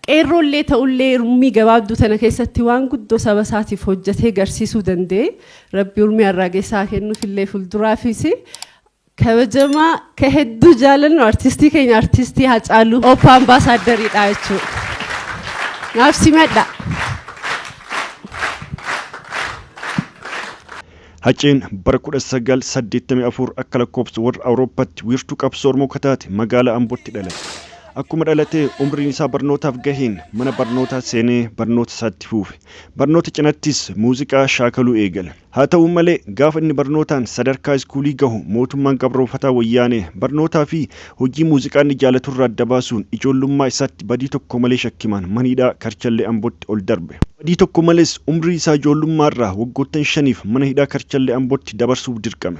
Qeerroollee ta'ullee urmii gabaabduu tana keessatti waan guddoo saba isaatiif hojjetee garsiisuu danda'e rabbi urmii arraagessaa kennuufillee fuulduraafis Kabajamaa ka hedduu jaalannu artistii keenya artistii Hacaaluu Oppa Ambaasaaddariidha jechuudha. Naaf simadha. Haceen bara 1984 akka lakkoofsa warra Awurooppatti wiirtuu qabsoo Oromoo ka taate magaalaa Ambootti dhalate. Akkuma dhalatee umriin isaa barnootaaf gaheen mana barnootaa seenee barnoota isaa itti fuufe. Barnoota cinattis muuziqaa shaakaluu eegale. Haa ta'u malee, gaafa inni barnootaan sadarkaa iskuulii gahu mootummaan gabroomfataa Wayyaanee barnootaa fi hojii muuziqaa inni jaalaturraa adda baasuun ijoollummaa isaatti badii tokko malee shakkimaan mana hidhaa Karchallee Ambootti ol darbe. Badii tokko malees umrii isaa ijoollummaarraa waggoottan shaniif mana hidhaa Karchallee Ambootti dabarsuuf dirqame.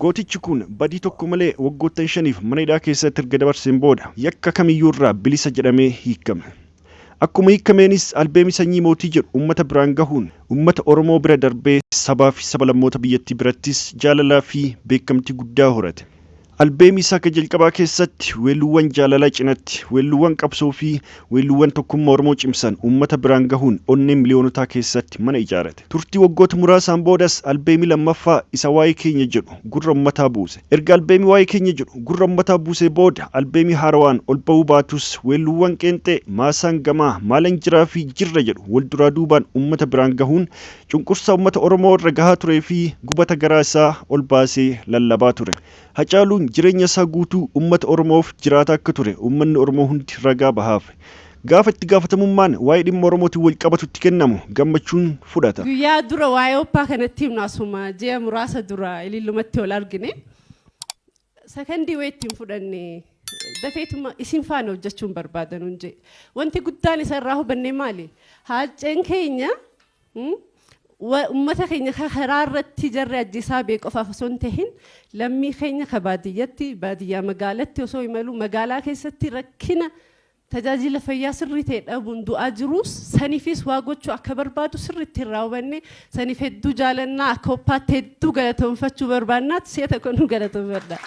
Gootichi kun badii tokko malee waggoottan shaniif mana hidhaa keessatti erga dabarseen booda yakka kamiyyuu irraa bilisa jedhamee hiikkame. Akkuma hiikkameenis albeemii Sanyii Mootii jedhu ummata biraan gahuun ummata Oromoo bira darbee sabaafi sabalammoota biyyattii birattis jaalalaafi beekamtii guddaa horate. Albeemii isaa ka jalqabaa keessatti weelluuwwan jaalalaa cinatti weelluuwwan qabsoofi weelluuwwan tokkummaa Oromoo cimsan ummata biraan gahuun onnee miliyoonotaa keessatti mana ijaarate. Turtii waggoota muraasaan boodas albeemii lammaffaa isa Waa'ee Keenya jedhu gurra ummataa buuse. Erga albeemii Waa'ee Keenya jedhu gurra ummataa buusee booda albeemii haarawaan ol ba'uu baatus weelluuwwan qeenxee Maasaan Gamaa, Maalan Jiraa fi Jirra jedhu wal duraa duubaan ummata biraan gahuun cunqursaa ummata Oromoo irra gahaa turee fi gubata garaa isaa ol baasee lallabaa ture. Hacaaluun jireenya isaa guutuu ummata Oromoof jiraataa akka ture ummanni Oromoo hundi ragaa bahaaf. Gaafa itti gaafatamummaan waa'ee dhimma Oromootiin wal qabatu itti kennamu gammachuun fudhata. Guyyaa dura waa'ee Oppaa kan itti himnu asuma ji'a muraasa dura Ilillumatti wal argine. Sakandii wayii ittiin fudhanne dafeetuma isin faana hojjechuun barbaada nuun jee. Wanti guddaan isa irraa hubanne maali? Haacceen keenya mm, wa- ummata keenya ka karaa irratti jarri ajjeesaa bee qofaaf osoo hin tahin lammii keenya ka baadiyyatti baadiyyaa magaalatti osoo imalu magaalaa keessatti rakkina Tajaajila fayyaa sirrii ta'e dhabuun du'aa jiruus sanifiis waa gochuu akka barbaadu sirriitti irraa hubannee saniif hedduu jaalannaa akka oppaatti hedduu galatoomfachuu barbaannaat si'a tokko nu galatoomfadha.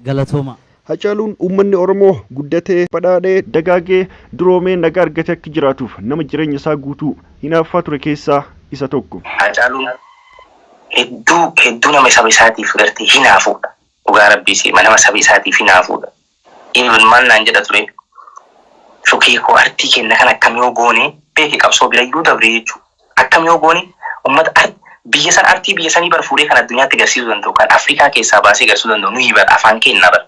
Galatoomaa. Hacaaluun uummanni Oromoo guddatee, badhaadhee, dagaagee, duroomee nagaa argatee akka jiraatuuf nama jireenya isaa guutuu hinaaffaa ture keessaa isa tokko. Haacaaluun hedduu hedduu nama saba isaatiif gartee hinaafuudha. dhugaa rabbii siima nama saba isaatiif hinaafuudha even maal naan jedha ture shukee koo artii kenna kan akkam yoo goone beeki qabsoo birayyuu dabree jechuu akkam yoo goone ummata ar biyya san artii biyya sanii bar fuudhee kan addunyaatti garsiisuu danda'u kan afrikaa keessaa baasee garsuu danda'u nuyi bar afaan keennaa bar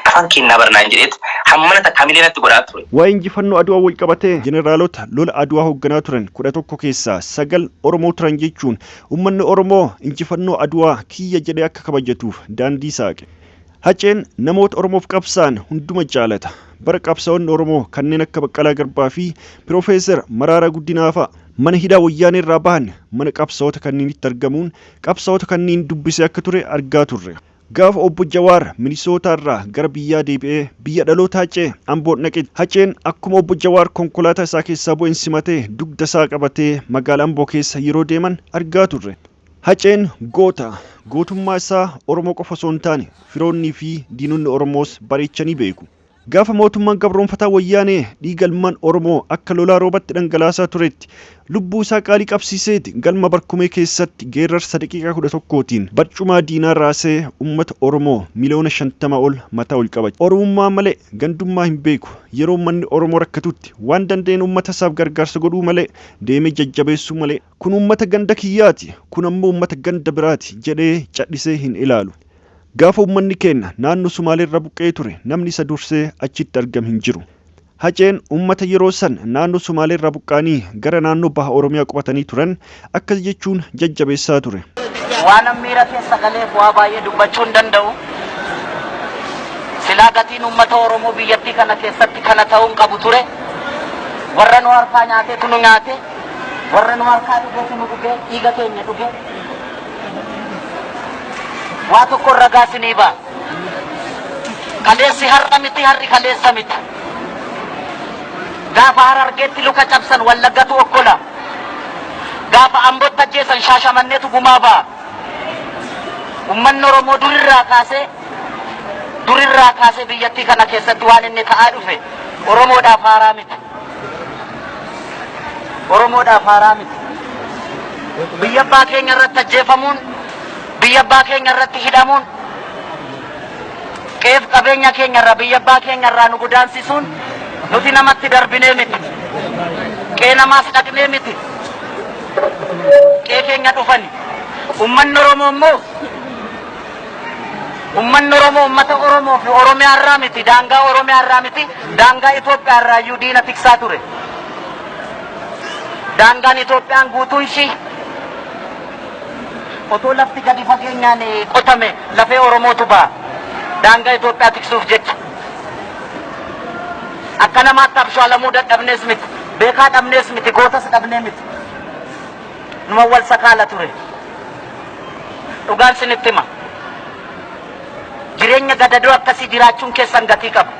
afaan keennaa bar naan jedheet hammana takka hamilee natti godhaa ture. Waa'ee injifannoo Adwaa walqabatee jeneraalota lola Adwaa hoogganaa turan kudha tokko keessaa sagal Oromoo turan jechuun Ummanni Oromoo injifannoo Adwaa kiyya jedhee akka kabajatuuf daandii saaqe. Haceen namoota Oromoof qabsaa'an hunduma jaalata. Bara qabsaa'onni Oromoo kanneen akka Baqqalaa Garbaa fi Piroofeesar Maraaraa Guddinaa fa'a mana hidhaa Wayyaanee irraa bahan mana qabsaa'ota kanniinitti argamuun qabsaa'ota kanniin dubbisee akka ture argaa turre. Gaafa Obbo Jawaar Minisootaarraa gara biyyaa deebi'ee biyya dhalootaa ce'e Amboon dhaqe. Haceen akkuma Obbo Jawaar konkolaataa isaa keessaa bu'een simatee dugda isaa qabatee magaala Amboo keessa yeroo deeman argaa turre. Haceen goota. Gootummaa isaa Oromoo qofa osoo hin taane firoonnii fi diinonni Oromoos bareechanii beeku. Gaafa mootummaan gabroomfataa Wayyaanee dhiiga ilmaan Oromoo akka lolaa roobatti dhangalaasaa turetti lubbuu isaa qaalii qabsiiseeti galma Barkumee keessatti geerrarsa daqiiqaa 11tiin barcumaa diinaa raasee ummata Oromoo miliyoona 50 ol mataa ol qabachiise. Oromummaa malee gandummaa hin beeku. Yeroo ummanni Oromoo rakkatutti waan danda'een ummata isaaf gargaarsa godhuu malee deemee jajjabeessuu malee. Kun uummata ganda kiyyaati, kun ammoo uummata ganda biraati jedhee cadhisee hin ilaalu. Gaafa uummanni keenna naannoo Sumaaleerra buqqa'ee ture namni isa dursee achitti argame hin jiru. Haceen uummata yeroo san naannoo Sumaaleerraa buqqa'anii gara naannoo Baha Oromiyaa qubatanii turan akkas jechuun jajjabeessaa ture. Waanan miira keessa galeef waa baay'ee dubbachuu hin danda'u. Silaa gatiin uummata Oromoo biyyattii kana keessatti kana ta'uu hin qabu ture. Warra nu harkaa nyaatetu nu nyaate. warra nu harkaa dhugetu nu dhuge dhiiga keenya dhuge waa tokko ragaa sinii ba'a kaleessi har'a miti har'i kaleessa miti gaafa harargeetti luka cabsan wallaggatu okkola gaafa ambotti ajjeesan shaashamanneetu gumaa ba'a ummanni oromoo durirraa kaasee durirraa kaasee biyyattii kana keessatti waan inni ta'aa dhufe oromoodhaaf haaraa miti Oromoodhaaf haaraa miti. Biyya abbaa keenya irratti ajjeefamuun, biyya abbaa keenya irratti hidhamuun, qe'ee fi qabeenya keenya irraa, biyya abbaa keenya irraa nu godaansisuun nuti namatti darbinee miti. Qe'ee namaas dhaqnee miti. Qe'ee keenya dhufani. Uummanni Oromoo immoo Ummanni Oromoo ummata Oromoo fi Oromiyaa irraa miti, daangaa Oromiyaa irraa miti, daangaa Itoophiyaa irraa iyyuu diina tiksaa ture. Daangaan Itoophiyaan guutuun ishii otoo lafti gadi fageenyaan qotame lafee Oromootu ba'a. Daangaa Itoophiyaa tiksuuf jecha. Akka namaatti abshaalamuu dadhabnees miti, beekaa dhabnees miti, gootas dhabnee miti. numa wal sakaala ture. Dhugaan sinitti hima. Jireenya gadadoo akkasii jiraachuun keessan gatii qaba.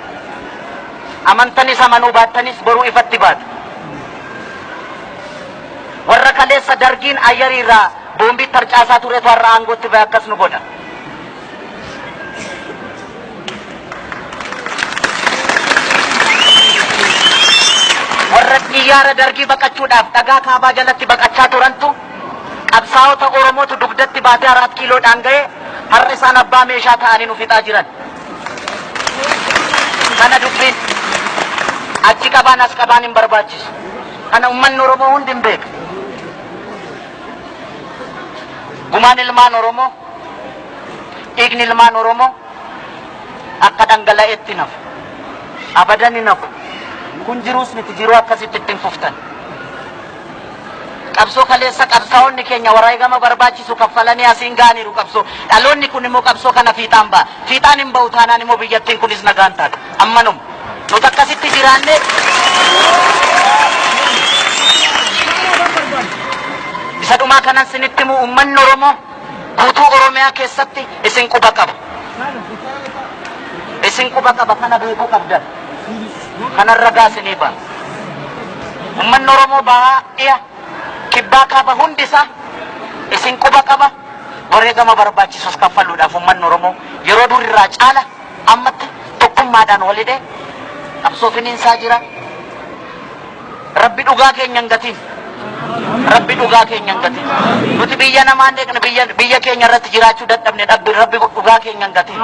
Amantanis amanuu baattanis boruu ifatti baatu. Warra kaleessa dargiin ayyarii irraa boombii tarcaasaa turetu har'a aangootti ba'e akkas nu godha. Warra xiyyaara Dargii baqachuudhaaf dhagaa kaabaa jalatti baqachaa turantu qabsaa'ota Oromootu dugdatti baatee Araat Kiiloodhaan ga'e har'a isaan abbaa meeshaa ta'anii nu fixaa jiran. Kana dubbiin achi qabaan as qabaan hin barbaachisu. Kana uummanni Oromoo hundi hin beeka. Gumaan ilmaan Oromoo, dhiigni ilmaan Oromoo akka dhangala'etti hin hafu. Abadan hin hafu. Kun jiruus miti jiruu akkasitti ittiin fuftan. Qabsoo kaleessa qabsaa'onni keenya wareegama barbaachisu kaffalanii asiin ga'aniiru qabsoo. Dhaloonni kun immoo qabsoo kana fiixaan ba'a. Fiixaan hin ba'u taanaan immoo biyyattiin kunis nagaan taati. Ammanuma. Nuti akkasitti jiraannee Isa dhumaa kanan sinitti himu uummanni Oromoo guutuu Oromiyaa keessatti isin quba qaba. Isin quba qaba kana beekuu qabdan. Kanan ragaa isinii ba'a. Uummanni Oromoo bahaa dhiya kibbaa kaaba hundi isaa isin quba qaba. Wareegama barbaachisus kaffaluudhaaf uummanni Oromoo yeroo durirraa caala Ammatti tokkummaadhaan wal hidhee qabsoo finiinsaa jira. Rabbi dhugaa keenya hin gatiin. Rabbi dhugaa keenya hin gatiin. Nuti biyya namaa hin eegne biyya biyya keenya irratti jiraachuu dadhabne dhabbi Rabbi dhugaa keenya hin gatiin.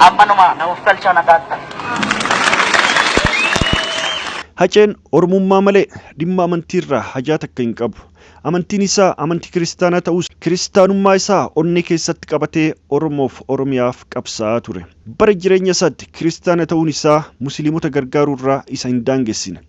Ammanuma na of galchaa nagaatti. Haceen Oromummaa malee dhimma amantiirraa hajaa takka hin qabu. Amantiin isaa amantii kiristaanaa ta'us kiristaanummaa isaa onnee keessatti qabatee Oromoof Oromiyaaf qabsaa'aa ture. Bara jireenya isaatti kiristaana ta'uun isaa musiliimota gargaaruu irraa isa hin daangessine.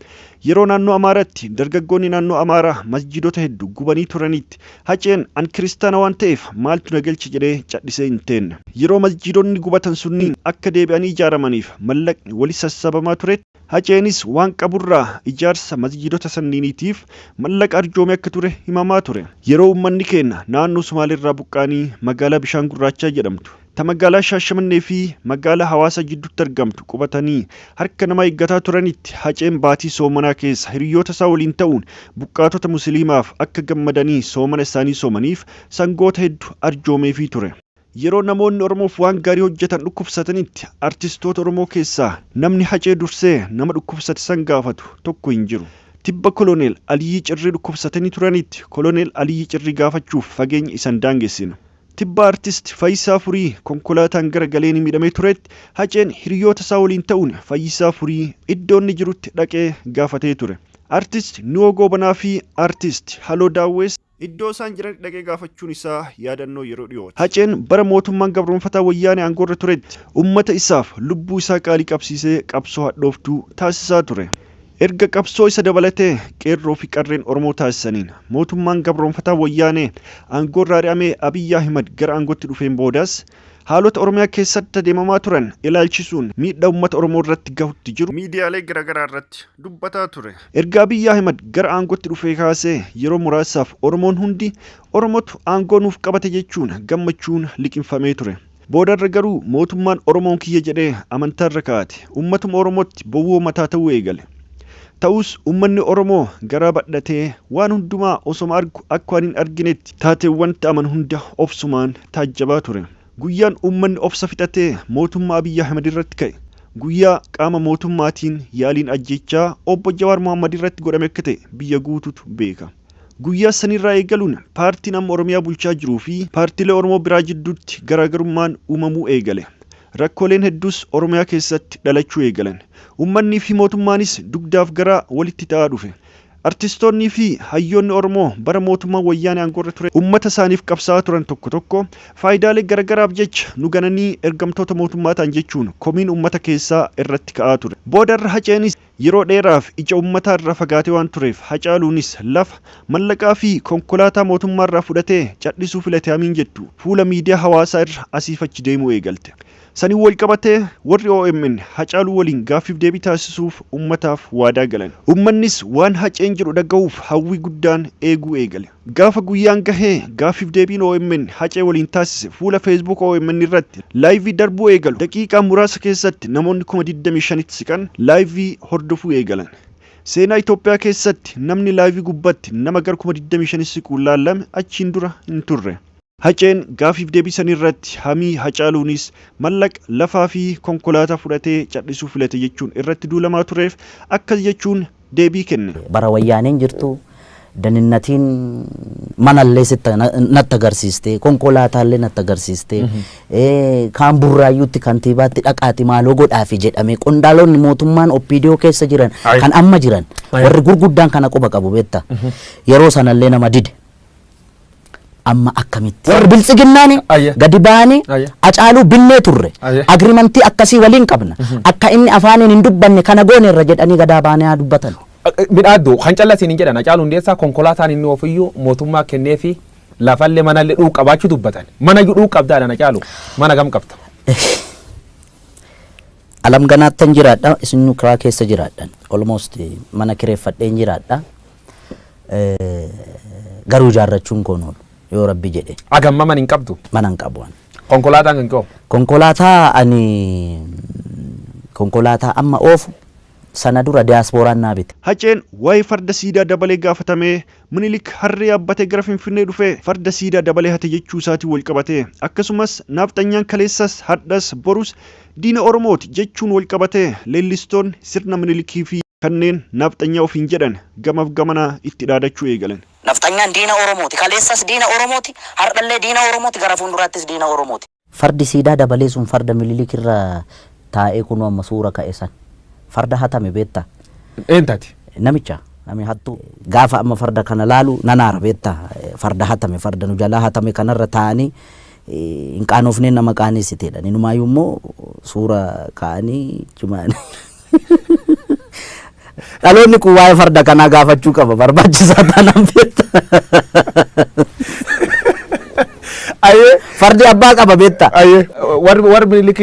Yeroo naannoo Amaaraatti dargaggoonni naannoo Amaaraa masjiidota heddu gubanii turaniitti Haceen an kiristaana waan ta'eef maaltu na galche jedhee cadhisee hin teenne. Yeroo masjiidonni gubatan sunniin akka deebi'anii ijaaramaniif mallaqni wali sassabamaa turetti, Haceenis waan qaburraa ijaarsa masjiidota sanniiniitiif mallaqa arjoome akka ture himamaa ture. Yeroo uummanni keenya naannoo Sumaaleerraa buqqa'anii magaalaa Bishaan Gurraachaa jedhamtu, ta magaalaa Shaashamannee fi magaalaa Hawaasaa jidduutti argamtu qubatanii harka namaa eeggataa turanitti Haceen baatii soomanaa keessa hiriyyoota isaa waliin ta'uun buqqaatota musiliimaaf akka gammadanii soomana isaanii soomaniif sangoota heddu arjoomeefii ture. Yeroo namoonni Oromoof waan gaarii hojjetan dhukkubsatanitti artistoota Oromoo keessaa namni Hacee dursee nama dhukkubsate san gaafatu tokko hin jiru. Tibba Koloneel Aliyyii Cirrii dhukkubsatanii turanitti Koloneel Aliyyii Cirrii gaafachuuf fageenya isa hin daangessine. Tibba Artist Fayisaa Furii konkolaataan gara galeeni miidhamee turetti Haceen hiriyoota isaa waliin ta'uun Fayyisaa Furii iddoo inni jirutti dhaqee gaafatee ture. Artist Nuwoo Goobanaa fi Artist Haloo Daawwees. Iddoo isaan jiranitti dhaqee gaafachuun isaa yaadannoo yeroo dhiyooti. Haceen bara mootummaan gabroomfataa Wayyaanee aangoorra turetti ummata isaaf lubbuu isaa qaalii qabsiisee qabsoo hadhooftuu taasisaa ture. Erga qabsoo isa dabalatee Qeerroo fi Qarreen Oromoo taasisaniin mootummaan gabroomfataa Wayyaanee aangoorra ari'amee Abiy Ahimad gara aangootti dhufeen boodas, Haalota Oromiyaa keessatti adeemamaa turan ilaalchisuun miidhaa uummata Oromoo irratti gahutti jiru miidiyaalee garaagaraa irratti dubbataa ture. Erga Abiy Ahimad gara aangootti dhufee kaasee yeroo muraasaaf Oromoon hundi Oromotu aangoo nuuf qabate jechuun gammachuun liqimfamee ture. Boodarra garuu mootummaan Oromoon kiyya jedhee amantaarra kaa'ate uummatuma Oromootti bowwoo mataa ta'uu eegale. Ta'us ummanni Oromoo garaa badhatee waan hundumaa osoma argu akka waan hin arginetti taateewwan ta'aman hunda obsumaan taajjabaa ture. Guyyaan ummanni obsa fixatee mootummaa Abiy Ahimed irratti ka'e guyyaa qaama mootummaatiin yaaliin ajjeechaa Obbo Jawaar Mohammed irratti godhame akka ta'e biyya guutuutu beeka. Guyyaa sanirraa eegaluun paartiin amma Oromiyaa bulchaa jiruu fi paartilee Oromoo biraa jidduutti garaagarummaan uumamuu eegale. Rakkooleen hedduus Oromiyaa keessatti dhalachuu eegalan. Uummanniifi mootummaanis dugdaaf garaa walitti ta'aa dhufe. Artistoonniifi hayyoonni Oromoo bara mootummaan Wayyaanee aangoorra ture uummata isaaniif qabsaa'aa turan tokko tokko faayidaalee garagaraaf jecha nu gananii ergamtoota mootummaa ta'an jechuun komiin uummata keessaa irratti ka'aa ture. Boodarra Haceenis. Yeroo dheeraaf ija ummataa irraa fagaatee waan tureef Hacaaluunis lafa, mallaqaa fi konkolaataa mootummaa irraa fudhatee cadhisuu filate hamiin jettu fuula miidiyaa hawaasaa irra asiif achi deemuu eegalte. Saniin wal qabatee warri omn Hacaaluu waliin gaaffiif deebii taasisuuf ummataaf waadaa galan. Ummannis waan Haceen jedhu dhagahuuf hawwii guddaan eeguu eegale. Gaafa guyyaan gahe gaaffiif deebiin omn Hacee waliin taasise fuula Facebook omn irratti laayivii darbuu eegalu. Daqiiqaa muraasa keessatti namoonni kuma 25tti siqan laayivii hordofuu eegalan. Seenaa Itoophiyaa keessatti namni laayivii gubbatti nama gar kuma 25 siquun laallame achiin dura hin turre. Haceen gaafiif deebii san irratti hamii Hacaaluunis mallaqa, lafaa fi konkolaataa fudhatee cadhisuu filate jechuun irratti duulamaa tureef akkas jechuun deebii kenne. Bara Wayyaaneen jirtu daninnatiin mana illee sitti natti agarsiiste, konkolaataa illee natti agarsiiste, kaan Burraayyuutti kantiibaatti dhaqaati maaloo godhaafi jedhamee qondaalonni mootummaan OPDO keessa jiran Ayi. kan amma jiran Ayi. warri gurguddaan kana quba qabu beekta. Yeroo sana illee nama dide. Amma akkamitti? Warri biltsiginnaani Ayya. gadi ba'anii Ayya. acaaluu binnee turre. Ayya. Agrimantii akkasii waliin qabna. Akka inni afaaniin hin dubbanne kana gooneerra jedhanii gadaa baanee haa dubbatan. Midhaaddu kan callaa siin hin jedhan Hacaaluu Hundeessaa konkolaataan inni ofiyyuu mootummaa kennee fi lafallee manallee dhuuf qabaachuu dubbatan. Mana iyyuu dhuuf qabdaa dhaan Hacaaluu mana gam qabda. Alam ganaattan jiraadha isin kiraa keessa jiraadhan. Almost mana kireeffadheen jiraadha. Garuu ijaarrachuun koo hin oolu yoo rabbi jedhe. Agamma man hin qabdu. Mana hin qabu. Konkolaataan kan koo. Konkolaataa ani konkolaataa amma oofu sana dura diyaaspooraan naa bite. Haceen waa'ee farda siidaa dabalee gaafatamee, Minilik harree yaabbatee gara Finfinnee dhufe farda siidaa dabalee hate jechuu isaatiin walqabatee akkasumas naafxanyaan kaleessas, hardhas, borus Diina Oromooti jechuun wal qabatee leellistoonni sirna Minilikii fi kanneen Nafxanyaa ofiin jedhan gamaf gamanaa itti dhaadachuu eegalan. Nafxanyaan diina Oromooti. Kaleessas diina Oromooti, hardhallee diina Oromooti, gara fuunduraattis diina Oromooti. Fardi siidaa dabalee sun farda Minilik irra taa'ee kunoo amma suura ka'e san. Farda hatame beektaa? Eentu hate? Namicha. Nami hattuu. Gaafa amma farda kana laalu nan aara beektaa? Farda hatame, farda nu jalaa hatame kanarra taa'anii hin qaanoofneen nama qaaneessiteedha. Inumaayyuu immoo suura kaa'anii jimaan. Dhaloonni kun waa'ee farda kanaa gaafachuu qaba barbaachisaa taanaan beekta. Ayee. Fardi abbaa qaba beekta. Ayee. Warri warri Minilik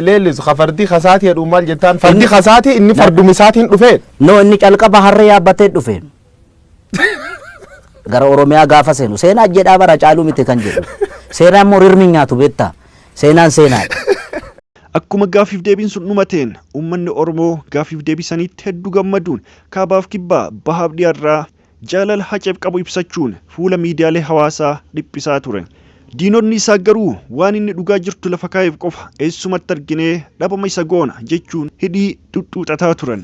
leellisu ka fardii kasaatii jedhu maal jettaan fardii kasaatii inni farduma isaatiin dhufee. No inni calqaba harree yaabbatee dhufe. gara Oromiyaa gaafa seenu seenaa jedhaa bara caaluu miti kan jedhu. Seenaan immoo rirmi nyaatu beektaa. Seenaan seenaadha. Akkuma gaafiif deebiin sun dhumateen uummanni Oromoo gaafiif deebii saniitti hedduu gammaduun kaabaaf kibbaa bahaaf dhiyaarraa jaalala haceef qabu ibsachuun fuula miidiyaalee hawaasaa dhiphisaa ture. Diinonni isaa garuu waan inni dhugaa jirtu lafa kaa'eef qofa eessumatti arginee dhabama isa goona jechuun hidhii xuxxuuxataa turan.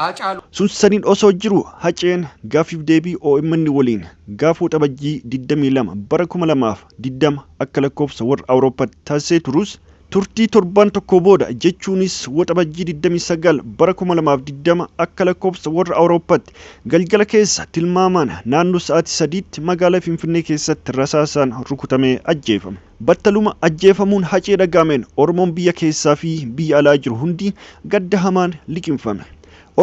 Haacaaluu. Sussaniin osoo jiru Haceen gaaffiif deebii omn waliin gaafa Waxabajjii 22 bara 2020 akka lakkoofsa warra Awurooppaatti taasisee turus turtii torbaan tokkoo booda jechuunis Waxabajjii 29 bara 2020 akka lakkoofsa warra Awurooppaatti galgala keessa tilmaamaan naannoo sa'aatii 3tti magaalaa Finfinnee keessatti rasaasaan rukutamee ajjeefame. Battaluma ajjeefamuun Hacee dhaga'ameen Oromoon biyya keessaa fi biyya alaa jiru hundi gadda hamaan liqimfame.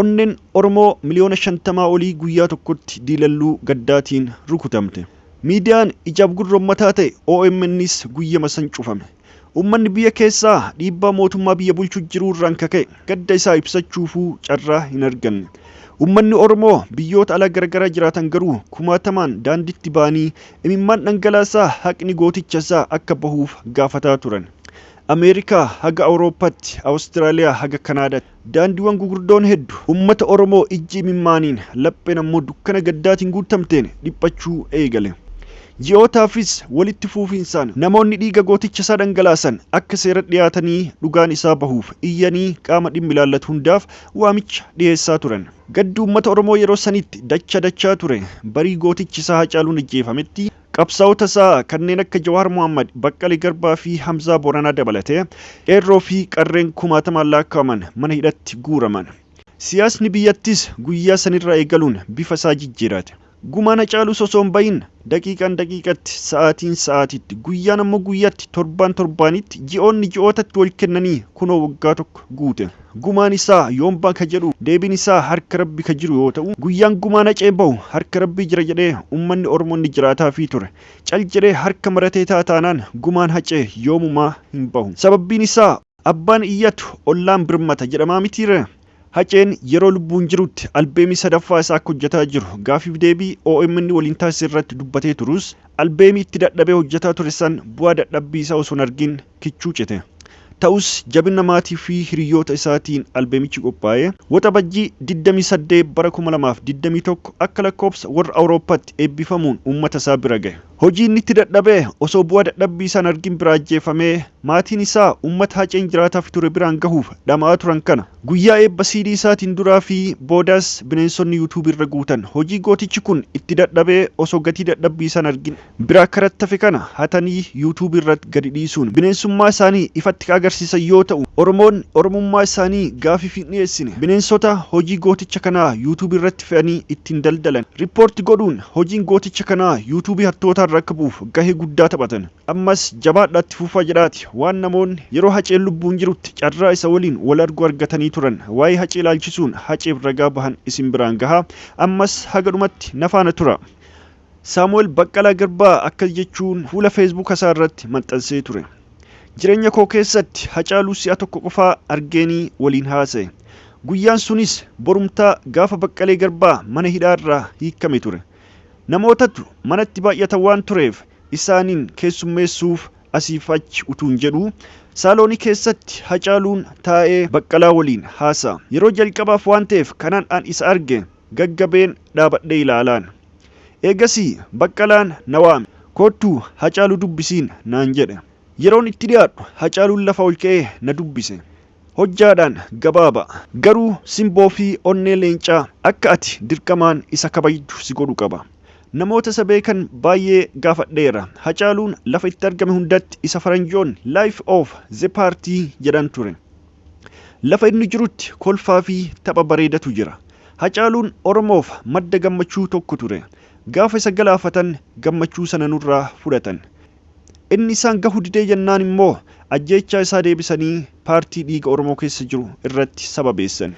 Onneen Oromoo miliyoona shantamaa olii guyyaa tokkotti diilalluu gaddaatiin rukutamte. Miidiyaan ijaaf gurra ummataa ta'e OMNs guyyama san cufame. Ummanni biyya keessaa dhiibbaa mootummaa biyya bulchu jiruu irraan ka ka'e gadda isaa ibsachuufuu carraa hin arganne. Ummanni Oromoo biyyoota alaa garagaraa jiraatan garuu kumaatamaan daanditti ba'anii imimmaan dhangalaasaa haqni gootichasaa akka bahuuf gaafataa turan. Ameerikaa haga Awurooppaatti, Awustiraaliyaa haga Kanaadaatti, daandiwwan gugurdoon heddu, ummata Oromoo ijji imimmaaniin, lapheen ammoo dukkana gaddaatiin guuttamteen dhiphachuu eegale. Ji'ootaafis walitti fuufiinsaan namoonni dhiiga gootichasaa dhangalaasan akka seeratti dhiyaatanii dhugaan isaa bahuuf iyyanii qaama dhimmi ilaallatu hundaaf waamicha dhiyeessaa turan. Gaddi uummata Oromoo yeroo sanitti dacha dachaa ture. Barii gootichi isaa Hacaaluun ajjeefametti qabsaa'ota isaa kanneen akka Jawaar Mohaammad, Baqqalee Garbaa fi Hamzaa Booranaa dabalatee qeerroo fi qarreen kumaatamaan laakkaa'aman mana hidhatti guuraman. Siyaasni biyyattiis guyyaa sanirraa eegaluun bifa isaa jijjiirate. Gumaa na caalus osoo hin bahin, daqiiqaan daqiiqatti, sa'aatiin sa'aatiitti, guyyaan ammoo guyyatti, torbaan torbaanitti, ji'oonni ji'ootatti wal kennanii kunoo waggaa tokko guute. Gumaan isaa yoom baha ka jedhu deebiin isaa harka Rabbi ka jiru yoo ta'u, guyyaan gumaa nacee bahu harka Rabbii jira jedhee ummanni Ormonni jiraataafii ture. Cal jedhee harka maratee ta'a taanaan gumaan hacee yoomumaa hin bahu. Sababbiin isaa. Abbaan iyyatu ollaan birmata jedhamaa mitiiree? Haceen yeroo lubbuun jirutti albeemii sadaffaa isaa akka hojjetaa jiru gaaffiif deebii omn waliin taasise irratti dubbatee turus albeemii itti dadhabee hojjetaa ture san bu'aa dadhabbii isaa osoo hin argin kichuu cite. Ta'us jabina maatii fi hiriyyoota isaatiin albeemichi qophaa'ee Waxabajjii 28 bara 2021 akka lakkoobsa warra Awurooppatti eebbifamuun uummata isaa bira gahe. Hojii inni itti dadhabe osoo bu'aa dadhabbii isaa hin argin biraa ajjeefamee, maatiin isaa uummata Haceen jiraataafi ture biraan gahuuf dhama'aa turan kana guyyaa eebba CD isaatiin duraa fi boodas bineensonni YouTube irra guutan hojii gootichi kun itti dadhabee osoo gatii dadhabbii isaa hin argin biraa karattafe kana hatanii YouTube irratt gadi dhiisuun bineensummaa isaanii ifatti ka agarsiisan yoo ta'u, Oromoonni Oromummaa isaanii gaafiif hin dhiyeessine bineensota hojii gooticha kanaa YouTube irratti fe'anii ittiin daldalan report godhuun Hojiin gooticha kanaa YouTube hattootaa irra akka bu'uuf gahee guddaa taphatan. Ammas jabaadhaa itti fufaa jedhaati waan namoonni yeroo Haceen lubbuun jirutti carraa isa waliin wal argu argatanii turan waa'ee Hacee ilaalchisuun Haceef ragaa bahan isin biraan gaha. Ammas haga dhumatti na faana tura. Saamu'el Baqqalaa Garbaa akkas jechuun fuula Facebook isaa irratti maxxansee ture. Jireenya koo keessatti Hacaaluu si'a tokko qofaa argeenii waliin haasa'e. Guyyaan sunis borumtaa gaafa Baqqalee Garbaa mana hidhaa irraa hiikkame ture. Namootatu manatti baay'ata waan tureef isaaniin keessummeessuuf asiif achi utuun jedhuu saaloonii keessatti Hacaaluun taa'ee Baqqalaa waliin haasa'a. Yeroo jalqabaaf waan ta'eef kanan an isa arge gaggabeen dhaabadhee ilaalaan. Eegasii Baqqalaan na waame. Koottu Hacaaluu dubbisiin naan jedhe. Yeroon itti dhiyaadhu Hacaaluun lafa ol ka'ee na dubbise. Hojjaadhaan gabaaba. Garuu simboo fi onnee leencaa akka ati dirqamaan isa kabajdu si godhu qaba. Namoota isa beekan baayyee gaafadheera. Hacaaluun lafa itti argame hundatti isa faranjoonni life of the party jedhan ture. Lafa inni jirutti kolfaa fi tapha bareedatu jira. Hacaaluun Oromoof madda gammachuu tokko ture. Gaafa isa galaafatan gammachuu sana nurraa fudhatan. Inni isaan gahu didee jennaan immoo ajjeechaa isaa deebisanii paartii dhiiga Oromoo keessa jiru irratti sababeessan.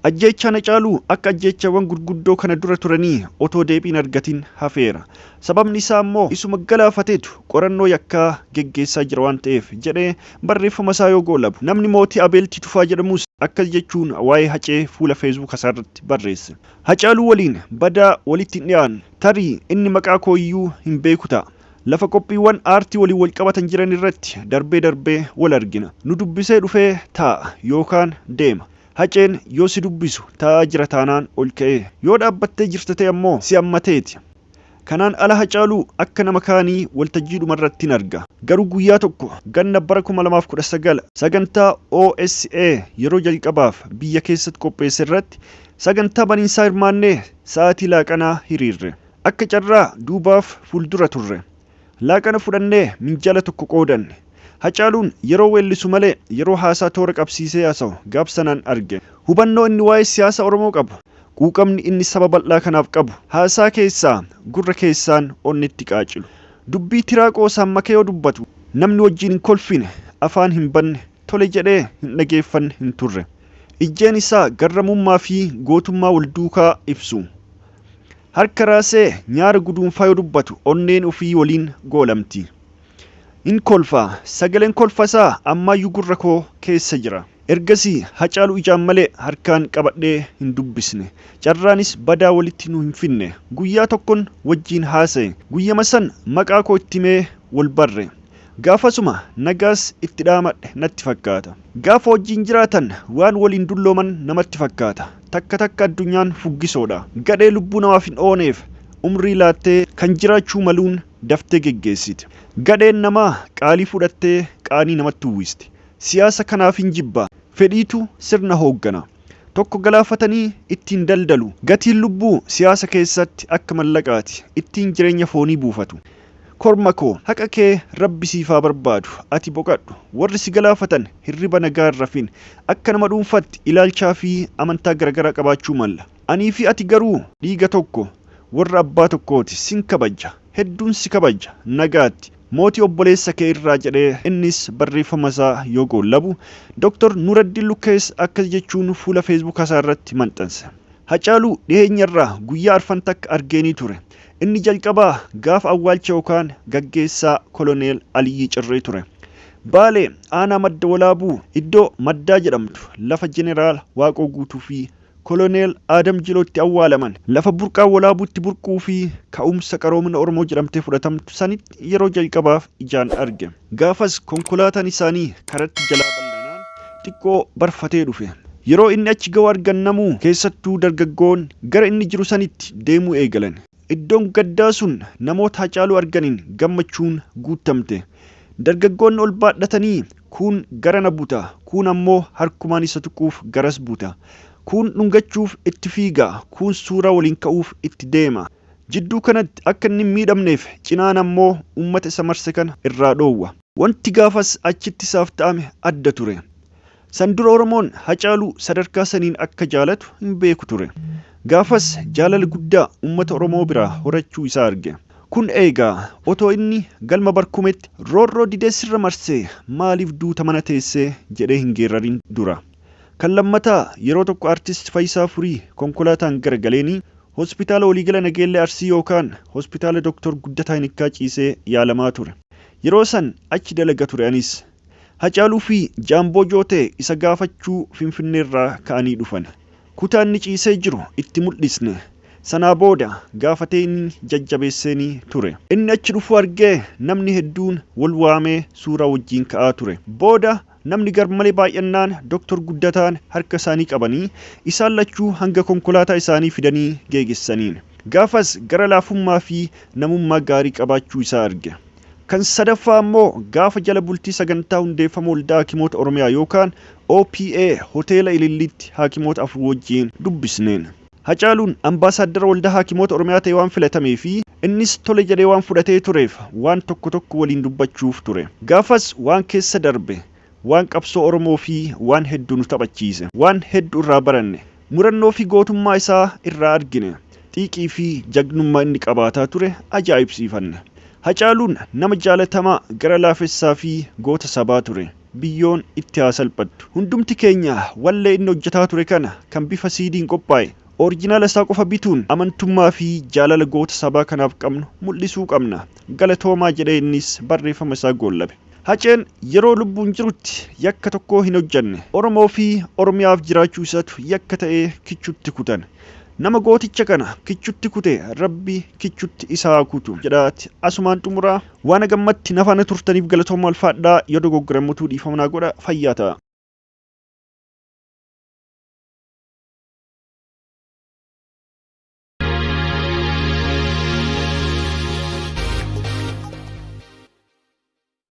Ajjeechaan Hacaaluu akka ajjeechaawwan gurguddoo kana dura turanii otoo deebii hin argatin hafeera. Sababni isaa immoo isuma galaafatetu qorannoo yakkaa geggeessaa jira waan ta'eef jedhee barreeffama isaa yoo goolabu. Namni mootii Abeelti Tufaa jedhamus akkas jechuun waa'ee Hacee fuula feesbuuka isaa irratti barreesse. Hacaaluu waliin badaa walitti hin dhiyaannu. Tarii inni maqaa koo iyyuu hin beeku ta'a. Lafa qophiiwwan aartii waliin walqabatan jiran irratti darbee darbee wal argina. Nu dubbisee dhufee taa'a yookaan deema. Haceen yoo si dubbisu taa'aa jira taanaan ol ka'ee, yoo dhaabbattee jirta ta'e ammoo si hammateeti. Kanaan ala Hacaaluu akka nama kaanii waltajjiidhuma irrattin arga. Garuu guyyaa tokko ganna bara 2019 sagantaa OSA yeroo jalqabaaf biyya keessatti qopheesse irratti sagantaa baniinsaa hirmaannee sa'aatii laaqanaa hiriirre. Akka carraa duubaaf fuuldura turre. Laaqana fudhannee minjaala tokko qoodanne. Hacaaluun yeroo weellisu malee yeroo haasaa toora qabsiisee haasawu gaaf sanaan arge. Hubannoo inni waa'ee siyaasa Oromoo qabu, quuqamni inni saba bal'aa kanaaf qabu haasaa keessaa gurra keessaan onnetti qaacilu. Dubbii tiraa qoosaan make yoo dubbatu namni wajjin hin kolfine, afaan hin banne, tole jedhee hin dhageeffanne hin turre. Ijjeen isaa garramummaa fi gootummaa wal duukaa ibsu. Harka raasee nyaara guduunfaa yoo dubbatu onneen ufii woliin goolamti. Hin kolfa. Sagaleen kolfa isaa ammaayyuu gurra koo keessa jira. Ergasii Hacaaluu ijaan malee harkaan qabadhee hin dubbisne. Carraanis badaa wolitti nu hin finne. Guyyaa tokkon wojjiin haasaye. Guyyama san maqaa koo itti himee wol barre. Gaafasuma nagaas itti dhaamadhe natti fakkaata. Gaafa wajjin jiraatan waan waliin dullooman namatti fakkaata. Takka takka addunyaan fuggisoodha. Gadhee lubbuu namaaf hin ooneef umrii laattee kan jiraachuu maluun daftee geggeessiti. Gadheen namaa qaalii fudhattee qaanii namatti uwwisti. Siyaasa kanaafin jibba. Fedhiitu sirna hooggana. Tokko galaafatanii ittiin daldalu. Gatiin lubbuu siyaasa keessatti akka mallaqaati. Ittiin jireenya foonii buufatu. Korma koo haqa kee rabbi siif haa barbaadu ati boqadhu warri si galaafatan hirriba nagaa hin rafin akka nama dhuunfatti ilaalchaa fi amantaa garagaraa qabaachuu malla anii fi ati garuu dhiiga tokko warra abbaa tokkooti sin kabajja hedduun si kabajja nagaatti mootii obboleessa kee irraa jedhee innis barreeffama isaa yoo goollabu Doktar Nuraddiin Lukkees akkas jechuun fuula feesbuuka isaa irratti maxxanse Hacaaluu dhiheenya irraa guyyaa arfan takka argeenii ture Inni jalqabaa gaafa awwaalcha yookaan gaggeessaa Koloneel Aliyyii Cirrii ture. Baalee, aanaa Madda Walaabuu, iddoo Maddaa jedhamtu, lafa Jeneraal Waaqoo Guutuu fi Koloneel Aadam Jiloo itti awwaalaman, lafa burqaan Walaabuu itti burquu fi ka'umsa qaroomina Oromoo jedhamtee fudhatamtu sanitti yeroo jalqabaaf ijaan arge. Gaafas konkolaataan isaanii karatti jalaa bal'anaan xiqqoo barfatee dhufe. Yeroo inni achi ga'u argan namuu, keessattuu dargaggoon, gara inni jiru sanitti deemuu eegalan. Iddoon gaddaa sun namoota Hacaaluu arganiin gammachuun guuttamte. Dargaggoonni ol baadhatanii kuun garana buta, kuun ammoo harkumaan isa tuquuf garas buta. Kuun dhungachuuf itti fiiga, kuun suuraa waliin ka'uuf itti deema. Jidduu kanatti akka inni hin miidhamneef cinaan ammoo ummata isa marse kana irraa dhoowwa. Wanti gaafas achitti isaaf ta'ame adda ture. San dura Oromoon Hacaaluu sadarkaa saniin akka jaalatu hin beeku ture. Gaafas jaalala guddaa ummata Oromoo biraa horachuu isaa arge. Kun eegaa otoo inni galma Barkumetti roorroo didee sirra marsee maaliif duuta mana teessee jedhee hin geerrarin dura. Kan lammataa yeroo tokko Artist Fayisaa Furii konkolaataan gara galeenii Hospitaala Waliigala Nageellee Arsii yookaan Hospitaala Doktor Guddataa Inikkaa ciisee yaalamaa ture. Yeroo san achi dalaga ture anis. Hacaaluu fi Jaamboo Jootee isa gaafachuu Finfinneerraa ka'anii dhufan. Kutaa inni ciisee jiru itti muldhisne. Sanaa booda gaafateenii jajjabeesseenii ture. Inni achi dhufuu argee namni hedduun wal waamee suuraa wajjiin ka'aa ture. Booda Namni garmalee baay'annaan Doktor Guddataan harka isaanii qabanii isaan lachuu hanga konkolaataa isaanii fidanii geegessaniin. Gaafas gara laafummaa fi namummaa gaarii qabaachuu isaa arge. Kan sadaffaa ammoo gaafa jala bultii sagantaa hundeeffama Waldaa Haakimoota Oromiyaa yookaan OPA Hoteela Ililliitti haakimoota afur wajjiin dubbisneen. Hacaaluun Ambaasaaddara Waldaa Haakimoota Oromiyaa ta'ee waan filatamee fi innis tole jedhee waan fudhatee tureef waan tokko tokko waliin dubbachuuf ture. Gaafas waan keessa darbe, waan qabsoo Oromoo fi waan heddu nu taphachiise. Waan heddu irraa baranne. Murannoo fi gootummaa isaa irraa argine. Xiiqii fi jagnummaa inni qabaataa ture ajaa'ibsiifanne. Hacaaluun nama jaalatamaa, gara laafessaa fi goota sabaa ture. biyyoon itti haa salphattu. Hundumti keenya wallee inni hojjetaa ture kana kan bifa siidiin qophaa'e orijinaala isaa qofa bituun amantummaa fi jaalala goota sabaa kanaaf qabnu mul'isuu qabna. Galatoomaa jedhee innis barreeffama isaa goollabe. Haceen yeroo lubbuun jirutti yakka tokkoo hin hojjenne. Oromoo fi Oromiyaaf jiraachuu isatu yakka ta'ee kichutti kutan. Nama gooticha kana kichutti kute Rabbi kichutti isa haa kutu jedhaati asumaan xumuraa. Waan haga ammatti na faana turtaniif galatoomaa ulfaadhaa. Yoo dogoggore ammotuu dhiifama naa godha. Fayyaa ta'a.